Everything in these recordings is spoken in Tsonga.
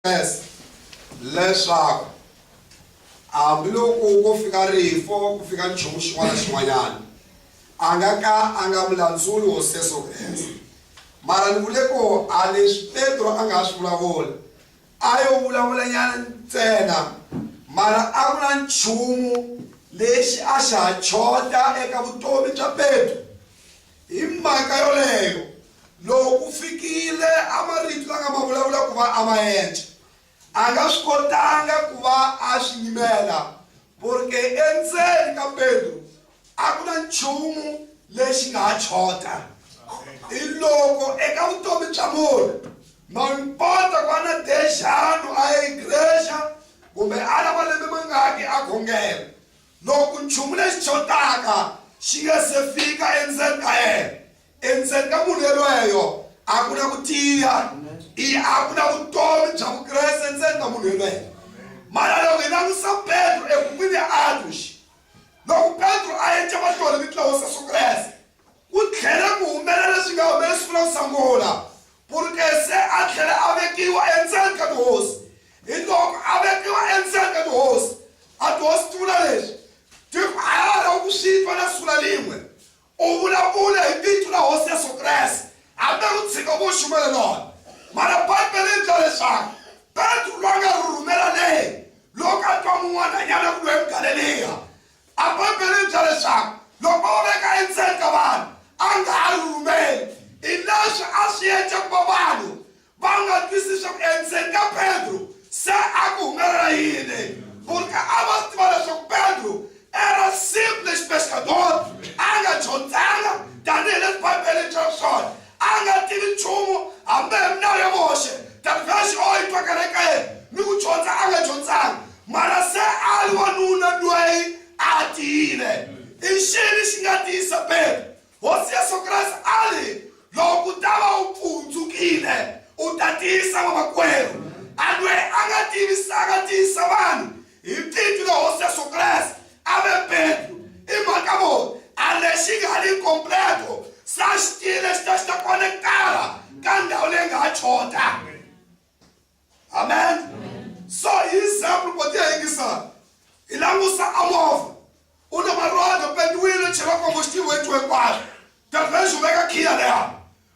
Kreste leswaku hambi loko ko fika rifu, ku fika nchumu xin'wana na xin'wanyana, a nga ka a nga mu landzuli Hosi Yesu Kreste. Mara ni vule ku a leswi Petro a nga ha swi vulavula, a yo vulavulanyana ntsena, mara a ku na nchumu lexi a xa ha chota eka vutomi bya Petro. Hi mhaka yoleyo, loko ku fikile a marito la nga ma vulavula ku va a ma endla, a nga swi kotanga ku va a swi yimela, porque endzeni ka Pedro a ku na nchumu lexi nga ha chota. Hiloko eka vutomi bya munhu, ma impota ku va na dexanu a ya egrexa kumbe a ri na malembe mangaki a khongela, Loko nchumu lexi xotaka xi nga se fika endzeni ka yena, endzeni ka munhu yelweyo a ku na ku tiya, i a ku na vutomi bya Vukreste endzeni ka munhu yelweyo. Mara loko hi langusa Petro ebukwini ya Atos, loko Petro a endla mahlori mitlawa Sesu Kreste, Ku tlhele ku humelela leswi nga humelela siku ra ku sungula, Purukese a tlhele a vekiwa endzeni ka tihosi. Hiloko a vekiwa endzeni ka tihosi, a tihosi ti vula leswi, Tiko a ya ha lavi ku swi twa na siku na rin'we. U vulavule hi vito ra Hosi Yesu Kreste, hambi ku tshika ku xumela rona. Mana Bibele yi byala leswaku Petro, loyi a nga rhurhumela le loko a twa mun'wananyana ku lwa eMugaleliya, A Bibele yi byela leswaku loko o veka endzeni ka vanhu a nga ha ri rhumeli. I leswi a swi endla ku va vanhu va nga twisisi leswaku endzeni ka Petro se a ku humelela yini. Burke a va swi tiva leswaku Petro era simples pescador, a nga dyondzanga tanihi leswi Bibele yi byelaka swona. A nga tivi nchumu, hambi hi milawu ya Moxe, Davixe o yi twakela eka yena, ni ku dyondza a nga dyondzanga, mana se a ri wanuna lweyi a tiyile. I ncini xi nga tiyisa Petro? Hosi Yesu Kreste a ri, Loko u ta va u pfundzukile, u ta tiyisa vamakwerhu. A lweyi a nga tivisanga a tiyisa vanhu. Hi Titwi na Hosi Yesu Kreste a ve Pedru. I mhaka muni? A lexi nga ni completo sa xi tile xi ta xi ta konekitara ka ndhawu leyi nga ha chota. Amen. So hi example ku tiya yingisana hi langusa a movha u na marhonda pendiwile chela kombo xitivo hi two hinkwaswo. Tafresh u veka khiya leya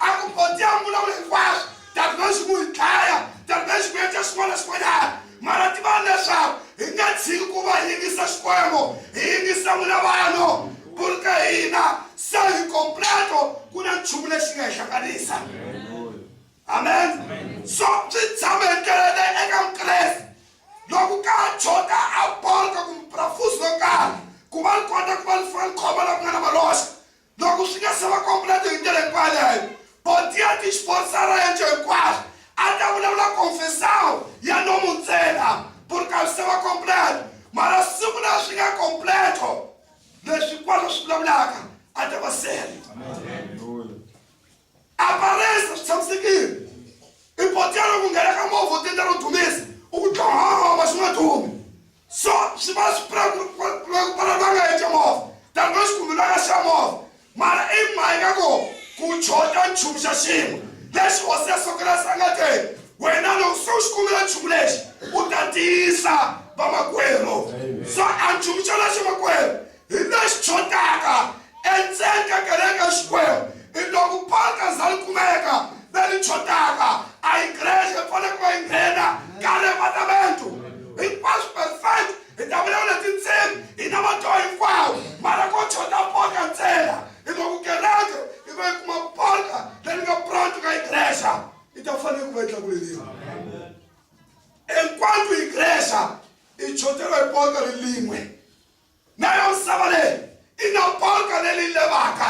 a ku boti a vulavula hinkwaswo davimexe ku hi dlaya davimexe ku endla xin'wana na xin'wanyana mara tivani leswaku hi nga tshiki ku va yingisa xikwembu hi yingisa n'wina vanhu bulu ka hina se hi kompleto ku na nchumu lexi nga hi hlanganisa amen so swi tshama hi ndlela eka mukreste loko ka jota a bolka kumbe brafusi lo karhi ku va ni kota ku va ni fana ni khoma la ku nga na maloxa Loko swi nga se va kompleto hi ndlela hinkwayo leyo, Portia ti xforcera enco hinkwaswo, a ta vulavula confessão ya nomu ntsena, por causa se va completo. Mara siku leri swi nga completo, leswi hinkwaswo swi vulavulaka a ta va sele. Amen. Aparesa swi tshamisekile. I potela ku nghena ka movha u tendla ro dumisa u ku dlonghoma swi nga dumi. So swi va swi pfula ku pfala va nga yece movha tani va xi kumbelaka xa movha mara i mhaka ko ku chota nchumu xa xin'we lexi hosi ya sokelasi a nga te wena loko se u xi kumbela nchumu lexi u ta tiyisa vamakwerhu so a nchumu xa lexi makwerhu Hi leswi tshotaka endzeni ka kereke ya Xikwembu i loko paka za li kumeka ve li tshotaka a yi grece ya fanele ku va yi nghena ka revatamento hinkwaswo perfect hi ta vulavula tindzimi hi na matwa hinkwawo mara ko tshota paka ntsena hi loko kereke yi va yi kuma paka leri nga pranto ka yi grece yi ta fanele ku va yi tlakuleriwa hinkwaswo yi grece i tshoteriwa hi paka ri lin'we Nayo misava leyi i na polka leli levaka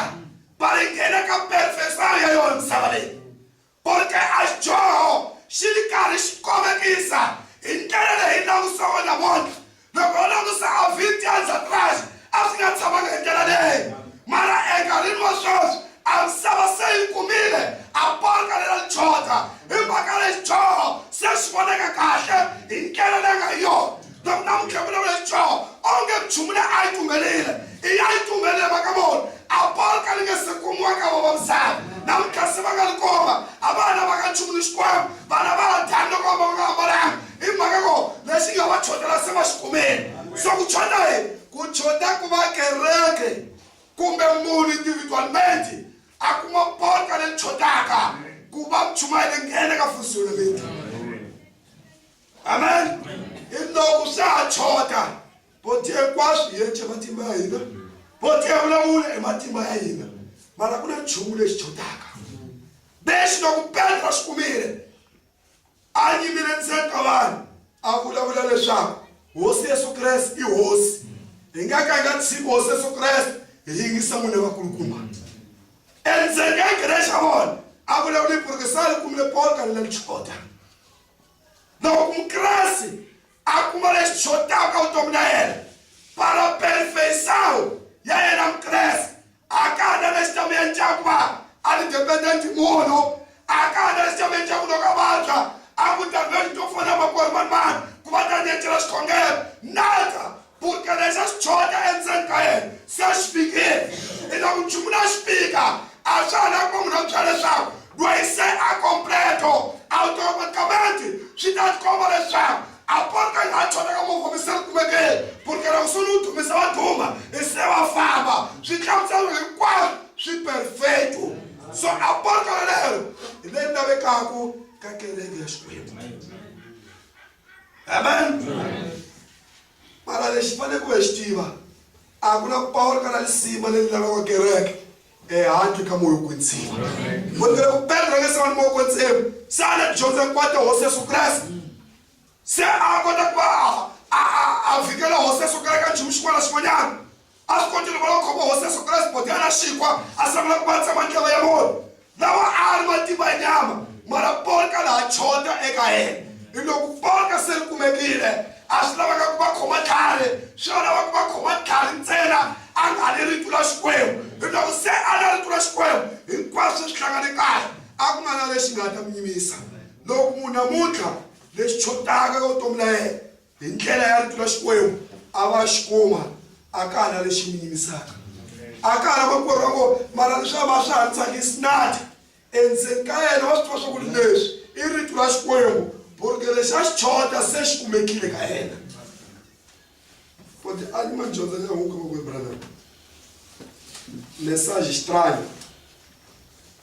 va ri nghena ka perfekswana ya yona misava leyi. Polka a xidyoho xi ri karhi xi kovekisa hi ndlela leyi hi langutisaka namuntlha. Loko ho langusa Avidiya ni Sadraxa a swi nga tshamanga hi ndlela leyi. Mara enkarhini wa sweswi a misava se yi kumile a polka lera lichocha hi mhaka leyi xidyoho se xi vonaka kahle hi ndlela leyi nga hi yona. loko na muntlha vulavula hi dzoho onge nchumu leyi a yi tumbelile i ya yi tumbelile maka vona apolo ka ni nge se kumiwa ka vavamisani na muntlha se va nga li koma a va hana va ka nchumu ni xikwembu vana va ha dyani loko va nga ambalanga i mhaka ko lexi nga va chotela se va xi kumeni so ku chota hi ku chota ku va kereke kumbe munhu individualmente a kuma polka leyi chotaka ku va mchuma yi le nghene ka fusiwile vito amen hi loko swa ha chota boti hinkwaswo hi yece matimba ya hina boti ya vulavula hi matimba ya hina mara ku na nchumu lexi chotaka lexi loko petro xi kumile a yimile ndzeni ka vanhu a vulavula leswaku hosi yesu kreste i hosi hi nga ka hi nga tshiki hosi yesu kreste hi yingisa n'wini vakulukumba endzeni ka kereke xa vona a vulavula hi purukisani kumile paul kalela lichoda Loko Mukreste a kuma lexi xotaka vutomi na yena, paraperfeição ya yena Mukreste a ka ha na lexi ta mi endlaka ku va a ri dependent munhu a ka ha na lexi ta mi endlaka ku loko a vabya a ku ta lweyi to fona makwerhu mani mani ku va ta ni encela xikhongelo nada Kutya lexi a xi tshonya endzeni ka yena se a xi fikile. I loko nchumu lowu a xi fika, a swa ha lavi ku va munhu a ku byela leswaku loyi se a completo automaticamente swi ta tikomba leswaku a porka nga ha tshonya ka movha mi se ri kumekeni porka loko se ni wu dumisa va duma i se va famba swi hlamuselo hinkwaswo swi perfecto so a porka lolero hi leyi lavekaku ka kereke ya xikwembu amen mara lexi faneleke ku hi xi tiva a ku na ku pawula ka na lisima leyi lavaka kereke ehandle ka moya kwetsima vonile ku petra nge se va ni moya kwetsima se a na dyondza kwata hosi yesu kreste se a kota ku va a fikela hosi yesu kreste ka nchumu xin'wana na xin'wanyana A swi kotile kwalaho Khombo Hosi ya Sokolasi Bodiana Xikhwa a sungula ku vavisa mandlava ya munhu lawa a a ri matimba ya nyama, mara polka laha chota eka yena. Hi loko polka se ri kumekile, a swi lavanga ku va khoma tlhari, swi lo lava ku va khoma tlhari ntsena a nga ri ritu ra Xikwembu. Hi loko se a na ritu ra Xikwembu, hinkwaswo se swi hlangane kahle, a ku nga na lexi nga ta n'wi nyumisa. Loko munhu namuntlha lexi chotaka ka vutomi la yena, Hi ndlela ya Rito ra Xikwembu, a va xi kuma, a ka ha na lexi mi yimisaka. A ka ha na makwerhu a ngo, mara leswi a va swi ha tsakisi nati. Endzeni ka yena wa swi tiva swa ku ri leswi i Rito ra Xikwembu, burge lexi a xi chota se xi kumekile ka yena. Futhi a ni ma dyondza ni amuka makwerhu Branham. Mesaje xitranyo.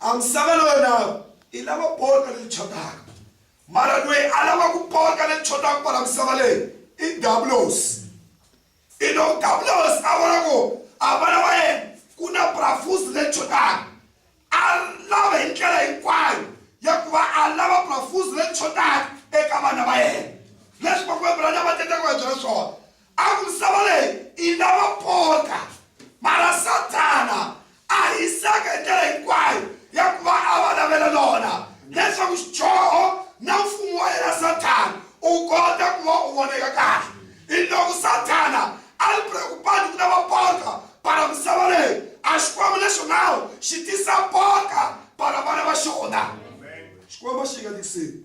a misava na yona yi lava poto leyi tshotaka mara loyi a lava ku pota leyi tshotaka kwala misava leyi i dabulos i lo dabulos a vona ku a vana va yena ku na brafusi leyi tshotaka a lava hi ndlela hinkwayo ya ku va a lava brafusi leyi tshotaka eka vana va yena leswi vakuvebrana va tendaka va byela swona a ku misava leyi yi na vapota mara sathana a hisaka hi ndlela hinkwayo ya ku va a va lavela lona leswaku xidyoho na mfumo wa yena sathana u kota ku va u voneka kahle hi loko sathana a ri preokupani ku na vapota para misava leyi a xikwembu lexo nawu xi tisa pota para vana va xona xikwembu xi nga tikiseni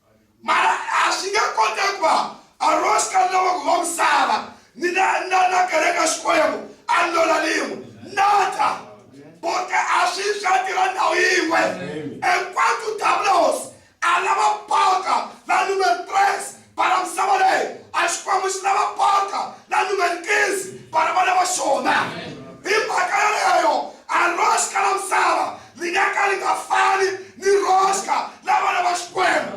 mara a swi nge koteki ku va arosi ka lava ku va misava ni na na na kereka xikwembu a lola lin'we nata bote a swi swa tirha ndhawu yin'we enkwatu dablos a lava baka la numer tres bara misava leyi a xikwembu xi lava baka la numer kinzi bara va lava xona hi mhaka yaleyo arosi ka la misava ri nga ka ri nga fani ni roska la vana va xikwembu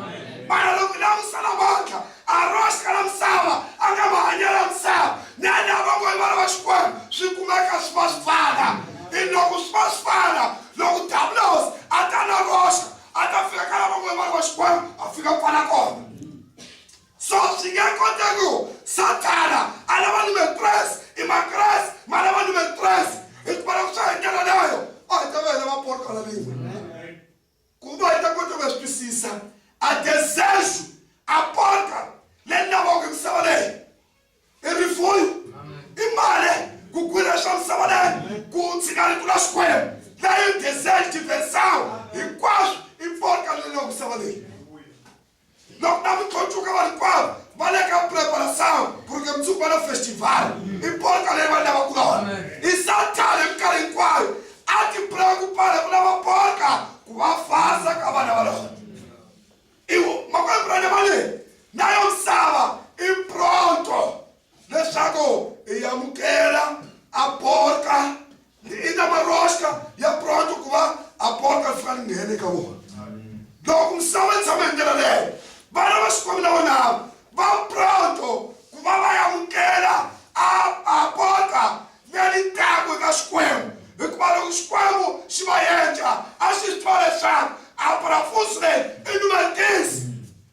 mara loko lamusa navantlha a roska la misava a nga mahanyelo ya misava na lava ngo i vana va xikwembu swi kumeka swi va swi fana i loko swi va swi fana loko davulosi a ta na roska a ta fika ka lava ngo i vana va xikwembu a fika pfala kona so swi nga kota ku sathana a lava ni makreste i makreste ma lava ni makreste hikuva loko swa hi ndlela leyo a hi ta va hi lava portala rin'we ku va hi ta kota ku ya swi twisisa a desejo a porta leyi lavaka hi misava leyi i rifuyo i mali ku kwira swa misava leyi ku tshika ritu la xikwembu leyi desejo diversawo hinkwaswo i porta leyi lavaka misava leyi Loko na mi khoncuka vanhu hinkwavo va le ka preparação porque mundzuku va na festival i polka leyi vanhu lava kulona i satana hi minkarhi hinkwayo a ti preocupale ku lava polka ku va fasa ka vana va lona iwo makwembrana va leyi na yo misava i pronto leswaku hi yamukela aporka ni ina maroxka ya proto ku va aporka ri fika ri nghena eka vona loko misava yi tshama hi ndlela leyo vana va xikwembu na vona va proto ku va va yamukela aporka leri taku eka xikwembu hikuva loko xikwembu xi va yenja a swi twa leswaku abrafusi leyi i numetisi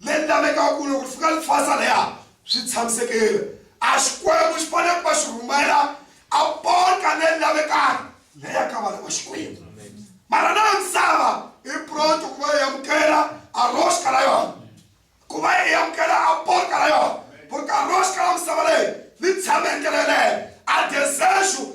leri lavekaka ku loko ri fika ri thwasa laya swi tshamisekile. A Xikwembu xi fanele ku va xi rhumela a ponca leri lavekaka laya ka vana va Xikwembu. Mara na misava i pronto ku va yi amukela a roxka ra yona, ku va yi amukela a ponca ra yona, porque a roxka ra misava leyi ri tshame endlelo yeleyo a desexo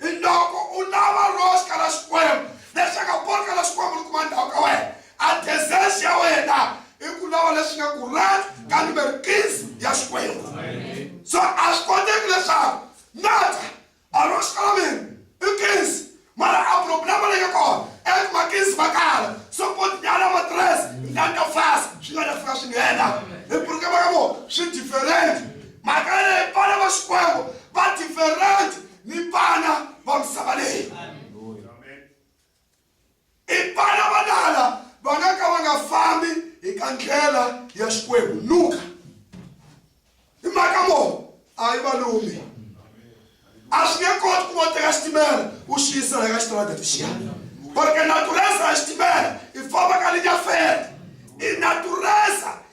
Hiloko u lava Ross ka la Xikwembu, lexaka Paul ka la Xikwembu ni kuma ndhawu ka wena, adesesi ya wena i ku lava lexi nge ku rat ka number keys ya Xikwembu. So a swi koteki leswaku nata a Ross ka la mina i keys mara a problem leyi nga kona i ku ma keys ma kala so pot nyala matres ndani ta fasa swi nga ta fika swi nghena hi purike maka vo swi different mhaka leyi vana va Xikwembu va different ni vana va misava leyi i vana va lala va nga ka va nga fambi hi ka ndlela ya xikwembu luka hi mhaka mo a yi valumi a swi nge koti ku va teka xitimela u xi yisa la ka xitarata lexiya barke natureza ya xitimela i famba ka linyafela i natureza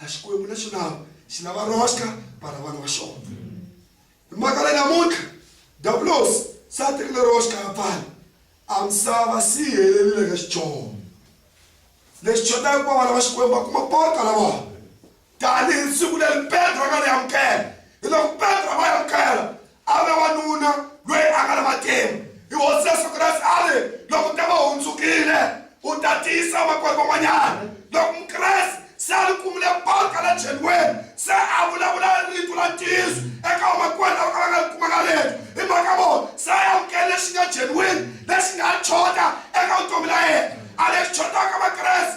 a xikwembu lexi lava xi lava roxka vana vana va xona hi mhaka leyi namuntlha davulos se a tekile roxka ya pfala a misava si yi helerile ka xichoo lexi chotaka ku va vana va xikwembu va kuma pota lava tanihi siku leri petro a nga ri amukela hi loko petro a va amukela A ve wanuna loyi a nga na matimu. I Hosi Yesu Kreste a ri, Loko te va hundzukile, u ta tiyisa vamakwerhu van'wanyana. Loko Mukreste se a ri kumile baka la cheriweni, se a vulavula rito la ntiyiso eka vamakwerhu lava ka va nga ri kumanga rito, hi mhaka vona se a amukele lexi nga genuine, lexi nga ha choda eka vutomi la yena. A lexi chodaka Vakreste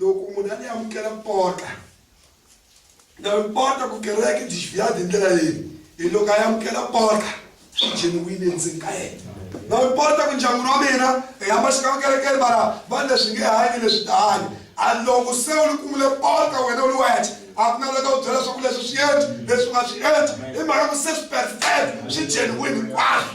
Loko munhu a ni amukela mpota, na mpota ku kereke byi xiviyadi hi ndlela leyi hi loko a yi amukela mpota genuine endzeni ka yena na mpota ku ndyangwini wa mina hi hamba xikama kerekeni mara vanhu leswi nge hanyi leswi ta hanya a loko se u ni kumile mpota wena u ni wexe a ku na loko u byela swa ku leswi swi endli leswi u nga swi endli hi mhaka ku se swi perfect swi genuine hinkwaswo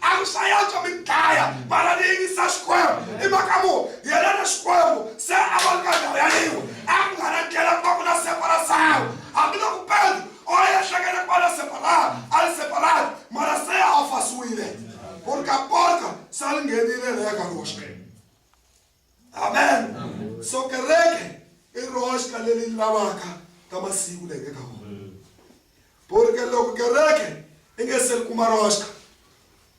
a ku sayatwa mi dlaya mara ni yingisa xikwembu i mhaka mu yena na xikwembu se a va ri ka ndhawu yaleyiwe a ku nga na ndlela ku va ku na separasawu hambiloko pedro o ehleketa ku va na separata a ri separata mara se a fasiwile ku ri ka porta se a ri nghenile reka roxe amen so kereke i roxka leri lavaka ka masiku leyi eka wona porque loko kereke i nge se kuma roxka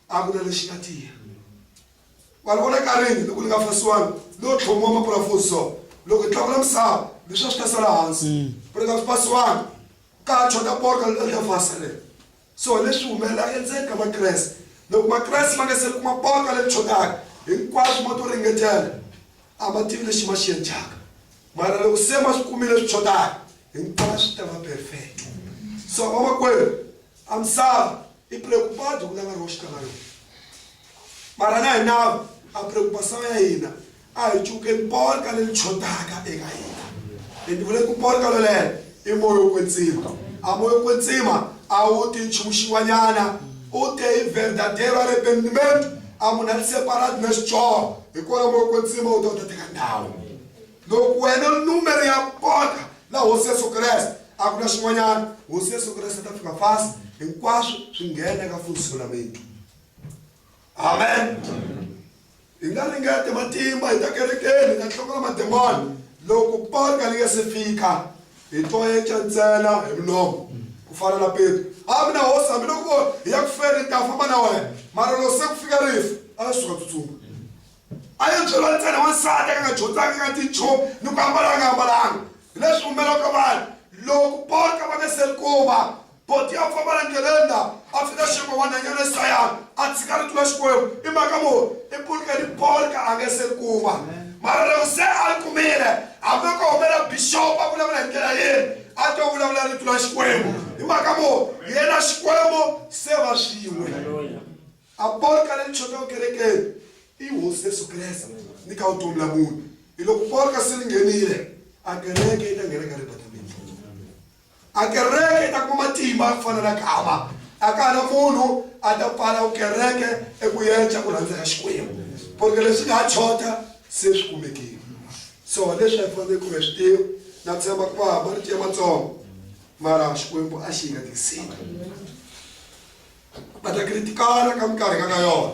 a ku na lexi nga tiya vanhu vona ka rini loko ni nga fasiwangi no tlhomiwa mapurafusi so loko i tlakula misava leswi a swi ta sala hansi mm. porque a swi fasiwangi ka chota porka leta fasa leri So, leswi humelelaka endzeni ka Makreste, loko Makreste ma nga se kuma botwa leri tshwekaka, hinkwaswo mo to ringetela a ma tivi lexi ma xi endlaka. Mara loko se ma swi kumile swi tshwekaka, hinkwaswo swi ta va perfect. So, vamakwerhu, a misava i preocupado ku lava roho xi ta va yona. Mara na hi nawu a preocupação ya hina A hi cukeni polka leri tshotaka eka hina. Ni vule ku polka loleyo i moya wo kwetsima. A moya wo kwetsima a wu ti nchumu xin'wanyana. U te hi verdadeiro arrependimento, a munhu a tiseparati na xidyoho, hi kona moya wo kwetsima wu ta wu ta teka ndhawu. Loko wena u ri numero ya polka la Hosi Yesu Kreste, a ku na xin'wanyana, Hosi Yesu Kreste ta fika fast, hinkwaswo swi nghena eka funzisolamento. Amen. Hi nga ringete matimba hi ta kerekeni, hi ta tlhokula mademoni. Loko paka li nga se fika, hi toeca ntsena hi mulomo, ku fana na Petro. A mina hosi, hambiloko hi ya ku feni, ni ta famba na wena, mara loko se ku fika rifu, a yo suka tsutsuma. A yo byeriwa ntsena wansati a nga nga dyondzanga, a nga tivi nchumu, ni ku ambala a nga ambalanga. Hi leswi humelelaka vanhu loko paka va nga se ri kuma. Boti ya famba na ngelenda a fika xekwa wa nhanyana Isayana a tshika rito ra Xikwembu i mhaka muni i pulika ni polka a nge se ri kuma mara loko se a ri kumile hambi ko humela bixopo a vulavula hi ndlela yini a to vulavula rito ra Xikwembu hi mhaka muni yena Xikwembu se va swin'we a polka leri chotaka kerekeni i hosi Yesu Kreste ni ka vutomi la munhu hi loko polka se ri nghenile a kereke yi ta nghena ka ribatamini A Kereke yi ta kuma matimba ya ku fana na gama, a ka ha na munhu a ta pfala ku kereke e ku yeca ku rhandza ka Xikwembu, porke leswi nga ha tshota se swi kumekile. So leswi hi faneleke ku hi swi tiva, na tshemba ku va marito ya matsongo, mara Xikwembu a xi hi nga tikiseli. Va ta kiritikana ka minkarhi nga ka yona,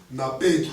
na petro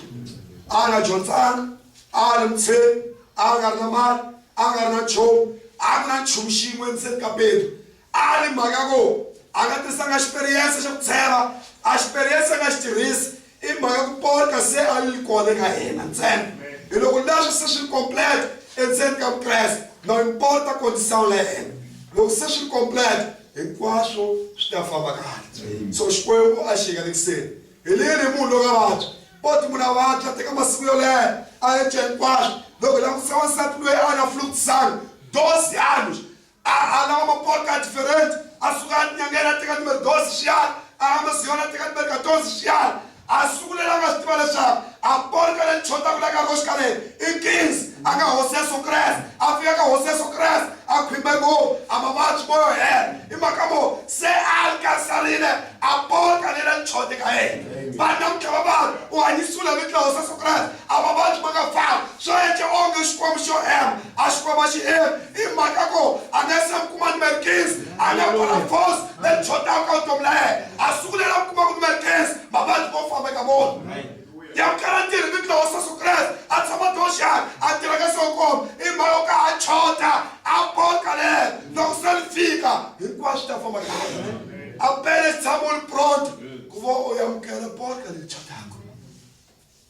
a nga dyondzanga a ri mutsheni a nga ri na mali a nga ri na nchumu a ku na nchumu xin'we endzeni ka petro a ri mhaka ko a nga tisanga xiperiyense xa ku tsheva a xiperiyense a nga xi tirhisi i mhaka ku pota se a yi kona ka hina ntsena hi loko leswi se swi ri complete endzeni ka vukreste na yi pota kondisano la yena loko se swi ri complete hinkwaswo swi ta famba kahle so xikwembu a xi yeka lekuseni Hi lini hi munhu loka vabya? Poti munhu a vabya teka masiku yo leha a eca hinkwaswo loko hi langutisa wansati loyi a na fluxan dosi anos a a lava mapoti a diferente a suka a tinyangela a teka numero dosi xiyana a ya masiyona a teka numero katonsi xiyana a sungulela a nga swi tiva leswaku a porka le chotaku la ka roshikaleni i kings a nga hosi yesu kreste a fika ka hosi yesu kreste a khwimba ngopfu a mavabyi moyo hela i mhaka mo se a alikasarile a pota le la ntshote ka ene vana mutlhava vanhu u hanyisula mitlawa sa sokrati a vavabyi ma nga fani swo ece onge xikwembu xo hema a xikwembu a xi hemi i mhaka ko a nga se kuma ni merkins a nga kwala fos le ntshotaku ka vutomi la yena a sungulela ku kuma ku ni merkins mavabyi mo famba ka vona ya kala tirhi mitlawa wa Yesu Kreste a tshama doxan a tirha ka sokom i mhaka yo ka a chota a boka ler loko se li fika hinkwaswo swi ta famba kahle a pele xi tshama u ri pronto ku va u yamukela boka leri chotaka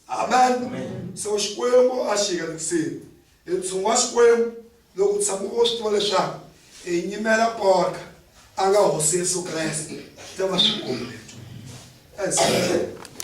amen so xikwembu a xi yekisini hi ntshungu wa xikwembu loko u tshama u swi tiva leswaku hi nyimela boka a nga hosi yesu kreste ta va swikombeto